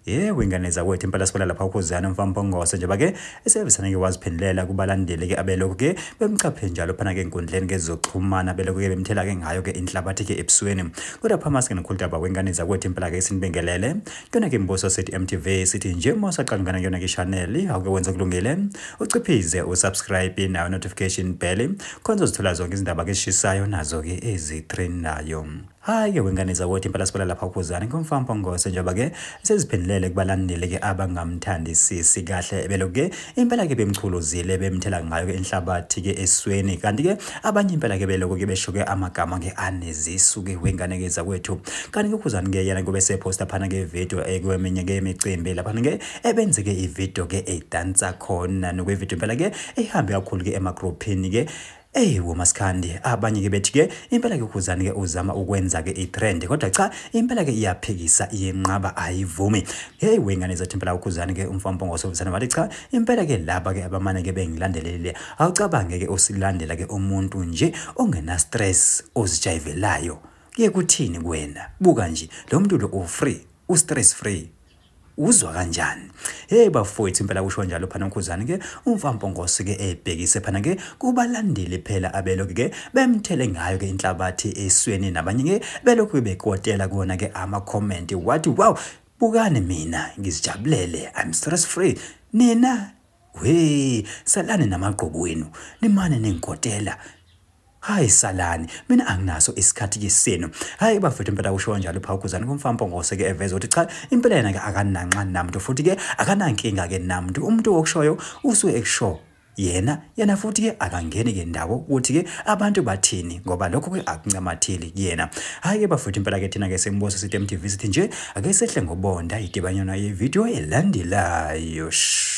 yebo ingane zakwethu impela sibona lapha ukhuzana umfampongose njengoba ke esevesane-ke waziphendulela kubalandeli-ke abelokhu-ke bemchaphe njalo phana-ke enkundleni-ke zokuxhumana belokhu-ke bemthela-ke ngayo-ke inhlabathi-ke ebusweni kodwa phamaske nokhuludaba wengane zakwethu impela-ke sinibingelele Kena ke mbuso sithi MTV sithi nje uma usaqala ngana kuyona ke channel awuke wenze kulungile uciphize usubscribe nayo notification bell khonza uzithola zonke izindaba ke sishisayo nazo ke ezitrend nayo hayi ke wengane zakwethu impela sibala lapha ukhuzane ngomfampa ngose njengoba ke seziphendulele kubalandeli ke abangamthandisisi kahle beloke impela ke bemchuluzile bemthela ngayo ke inhlabathi ke esweni kanti ke abanye impela ke beloko ke besho ke amagama ke anezisu ke wengane ke zakwethu kanti ke khuzani ke yena kube seposta phana ke video ekweminye ke imicimbi lapha ke ebenze ke ivideo ke edansa khona nokwevideo impela ke ehambe kakhulu ke emagroupini ke Ey womaskandi abanye ke bethi ke impela ke ukhuzani ke uzama ukwenza ke itrend kodwa cha impela ke iyaphikisa iyenqaba ayivumi hey wengane zathi impela ukhuzani ke umfampongo sovusana wathi cha impela ke laba ke abamane ke bengilandelele Awucabange ke usilandela ke umuntu nje ongena stress ozijayivelayo. Kuye kuthini kuwena? Buka nje lo muntu lo u free, u stress free. Uzwa kanjani? Hey bafowethu impela kusho njalo phana ukhuzani ke umfampongosi ke ebhekise phana ke kubalandeli phela abelokhu ke bemthele ngayo ke inhlabathi esweni nabanye ke belokhu bekotela kona ke ama comment wathi wow bukani mina ngizijabulele i'm stress free nina Wee, salani namagqobo wenu, nimane nengikotela. Hayi salani, mina anginaso isikhathi kisenu. Hayi bafethu impela kusho kanjalo pha ukuzana komfampo ngose ke eveza ukuthi cha impela yena ke akananxa namntu futhi ke akanankinga ke namntu. Umuntu okushoyo usuke ekusho yena yena futhi ke akangeni ke ndawo ukuthi ke abantu bathini ngoba lokho ke akuncamatheli kuyena hayi ke bafethu impela ke thina ke sembuso sitemtv sithi nje Ake sehle ngobonda idibanyana yevideo elandelayo. Shh.